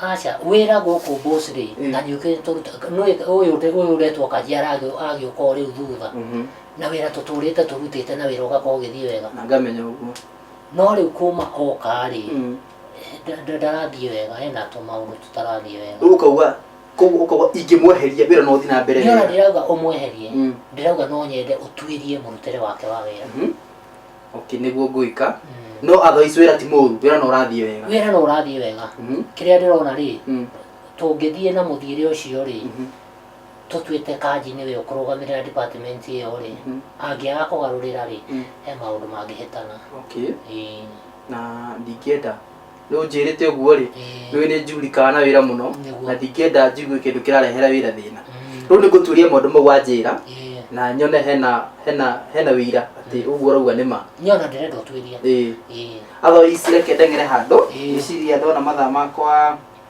aca wĩra gũkũ bũcirĩ Mm. na njũkĩrĩte tũruta nũĩ- ũyũ ndĩ- ũyũ ũretwo kanjara agĩ- agĩũka o rĩu thutha Mhm. na wĩra tũtũrĩte tũrutĩte na wĩra ũgakorwo ũgĩthiĩ wega na ngamenya ũguo no rĩu kuma okarĩ Mm. ndarathiĩ wega hena tũmaũndũ tũtarathiĩ wega rĩu ũkauga koguo ũkauga ingĩmweheria wĩra no ũthiĩ na mbere ndĩona wega. ndĩrauga ũmweherie Mm. ndĩrauga no nyende ũtuĩrie mũrutĩre wake wa wĩra Mhm. okay nĩguo ngũika Mm. no otherwise wĩra ti mũru wĩra no ũrathiĩ wega wĩra no ũrathiĩ wega Mhm, kĩrĩa ndĩrona rĩ mm, tũngĩthiĩ na mũthiĩre ũcio rĩ mhm, tũtuĩte kanji nĩwe ũkũrũgamĩrĩra department ĩyo rĩ mhm, angĩaga kũgarũrĩra rĩ mm, he maũndũ mangĩhĩtana okay Ĩĩ. na ndingĩenda Nĩ ũnjĩrĩte ũguo-rĩ, Ĩĩ. njũĩ nĩ njuurikaga na wĩra mũno, Nĩguo. na ndingĩenda njigue kĩndũ kĩrarehera wĩra thĩna. Mm. Rĩu nĩngũtuĩria maũndũ mau wanjĩra, Ĩĩ. na nyone hena, hena, hena wĩira atĩ ũguo ũrauga nĩ ma. Nĩ ona ndĩrenda ũtuĩrie. Ĩĩ. Ĩĩ. Athoi ici reke ndeng'ere handũ, Ĩĩ. ngĩciria ndona mathaa makwa.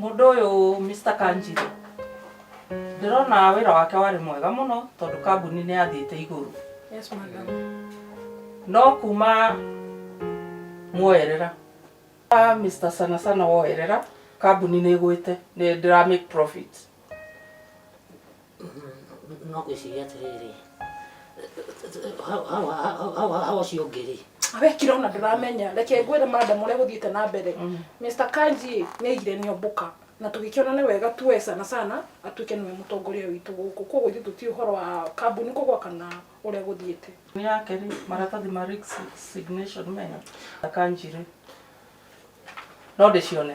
Mũndũ ũyũ Mr. Kanjiro ndĩrona wĩra wake warĩ mwega mũno tondũ kambuni nĩ yathiĩte igũrũ. Yes, madam. No kuma mwoerera Ah, Mr. Sana Sana woerera kambuni nĩ ĩgwĩte nĩ ndĩra make profit. no gwĩciria atĩrĩrĩ hau- hau- hau- hau- hau ũcio ũngĩ rĩ wekire ona ndũramenya reke ngwĩre madam ũrĩa gũthiĩte na mbere mr kanji nĩ aigire nĩ ombũka na tũgĩkĩona nĩ wega tuwe sana sana atuĩke nĩwe mũtongoria witũ gũkũ koguo ithuĩ tũti ũhoro wa kambuni kũgwa kana ũrĩa gũthiĩte Ni yake rĩ maratathi ma Rick signation mega akanjire no ndĩcione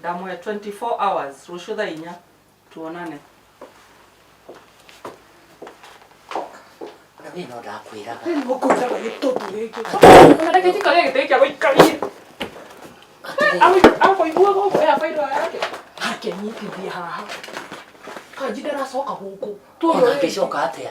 Ndamũhe 24 hours rũciũ thaa inya tuonane. Rĩu no ndakwĩraga. Rĩu ũkũnjaga gĩtũtu gĩkĩ. Ũreke njikare gĩtĩ gĩa gũikaria. Akũigua gũkũ ya bairũ yake. Hake nyitithia haha. Kanji ndaracoka gũkũ. Ona angĩcoka atĩa?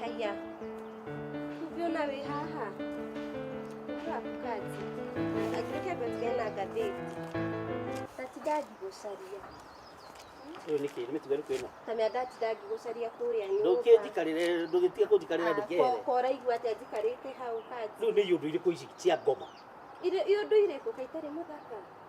Haya, ukiona we haha akukati agirike gotwe na gatheti tatidagi gũcaria Rĩu nĩkĩ nĩ mĩtugo ĩrĩkũ ĩno tamĩa ndatidagi gũcaria kũrĩa ndũkĩnjikarĩre ndũgĩtige kũnjikarĩra ndũkĩhere koraigua atĩ anjikarĩte hau kati rĩu nĩ iũndũ irĩkũ ici cia ngoma irĩ ũndũ irĩkũ kaitari mũthaka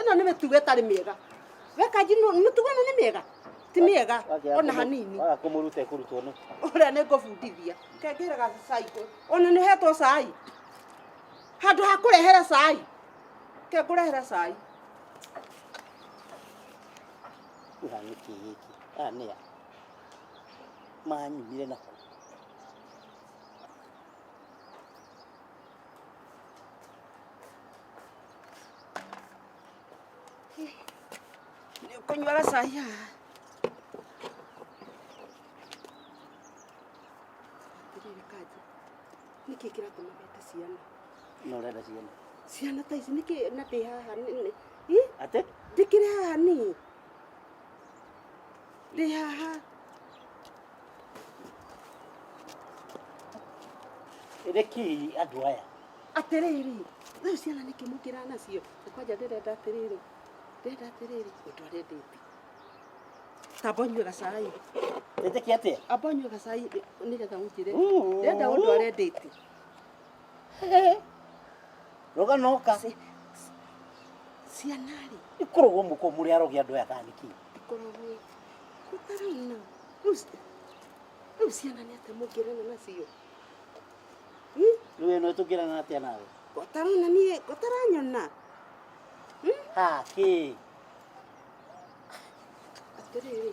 ĩno nĩ mĩtugo ĩtarĩ mĩega we kanji nũ- mĩtugo ĩno nĩ mĩega ti mĩega ona hanini waga kũmũruta ĩkũrutwo nĩ ũrĩa nĩ ngũbundithia kengere gacai ona nĩ hetwo cai handũ ha kũrehere cai ke ngũrehere cai ĩha nĩ kĩ gĩkĩ aya nĩ a manyumire na Nĩũkũnyua gacai haha. Atĩrĩrĩ kanjũ, nĩkĩ kĩratũma mete ciana? No ũrenda ciana. Ciana ta ici nĩkĩ na ndĩ haha nĩ- nĩ- Ih, Atĩ? ndĩkĩrĩ haha niĩ. Rĩ haha. Rekei andũ aya. Atĩrĩrĩ, rĩu ciana nĩkĩ mũkĩra nacio? Kwanja ndĩrenda atĩrĩrĩ, ndĩrenda atĩrĩrĩ, ũndũ arendete. Tamba ũnyue gacai. Ĩtĩkia atĩa? Amba ũnyue gacai nĩgetha ũnjĩre. Ndĩrenda ũndũ arendete. roga noka ciana rĩ ikorogwo mũkũ mũrĩ arogia andũ aya thaniki ikorogwo kũtarauna rĩu ciana nĩ atĩa mũngĩrana nacio rĩu ĩno ĩtũngĩrana atĩa nawe ũtarona niĩ ũtaranyona ha kĩ atĩrĩrĩ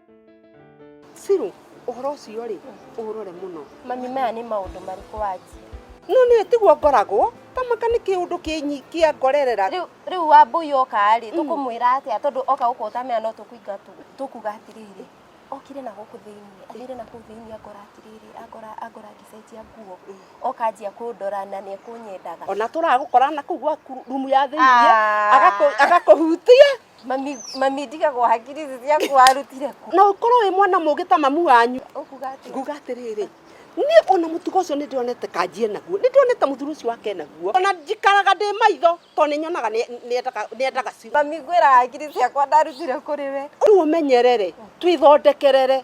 Sirũ, ũhoro ũcio rĩ, ũũrore mũno. Mami, maya nĩ maũndũ marĩkũ wanjia? No nĩ tiguo ngoragwo, kamaka nĩ kĩũndũ kĩnyi kĩa ngorerera. Rĩu rĩu wambũi oka rĩ, tũkũmwĩra atĩa tondũ oka gũkũ ũtamenya no tũkũinga tũkuga atĩrĩrĩ. Okire na gũkũ thĩinĩ, athire na kũu thĩinĩ angora atĩrĩrĩ, angora angora ngĩcenjia nguo. Oka anjia kũndora na nĩekũnyendaga. Ona tũragũkora na kũu gwaku rumu ya thĩinĩ, agakũ agakũhutia. Mami, mami ndigagwo hakiri ici ciaku warutire kũ? na ũkorwo wĩ mwana mũgĩ ta mamu wanyu Ũkuga atĩ nguga atĩrĩrĩ niĩ ona mũtugo ũcio nĩ ndĩronete kanjie naguo nĩ ndĩronete mũthuri ũcio wake naguo ona njikaraga ndĩ maitho tondũ nĩ nyonaga nĩ- nĩ endaga- nĩ endaga ciu mami ngwĩra hakiri ciakwa ndarutire kũrĩ we. rĩu ũmenyerere twĩthondekerere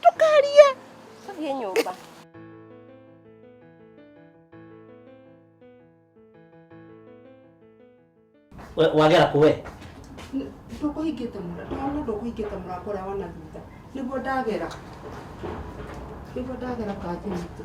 Ndũkarie. Tũthiĩ nyũmba. We, wagera kũ we ndũkũhingĩte mũra ndona ndũkũhingĩte mũra kũrĩa wana thutha nĩguo ndagera nĩguo ndagera kathi witũ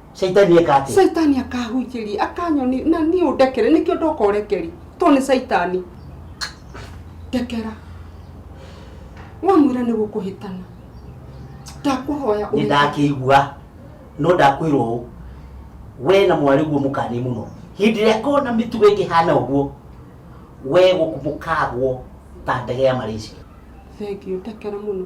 caitani eka atä caitani akahunjĩri akanyoni na niĩ ũndekere nĩkĩo ndoka ũrekeri to nĩ caitani ndekera wamwĩra nĩ gũkũhĩtana ndakũhoya nä ndakä igua no ndakwä rwo å we na mwarä guo må kanä må no hä ndä ä rä a kona mä tugo ä kä hana å guo we gå kagwo ta ndege ya marĩci thengio ndekera mũno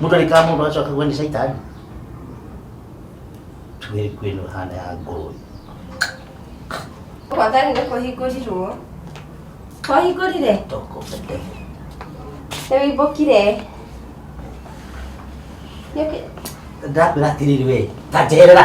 mũndũ arĩ kaa mũndũ agacoka kuga nĩ caitani tuge kwĩno hana ya ngũrũwe Wathani nĩ kũhingũrirwo. Twahingũrire? toko bete Nĩ wĩimbũkire. Nĩ ũkĩ- ndakwĩra atĩrĩrĩ we ta njerera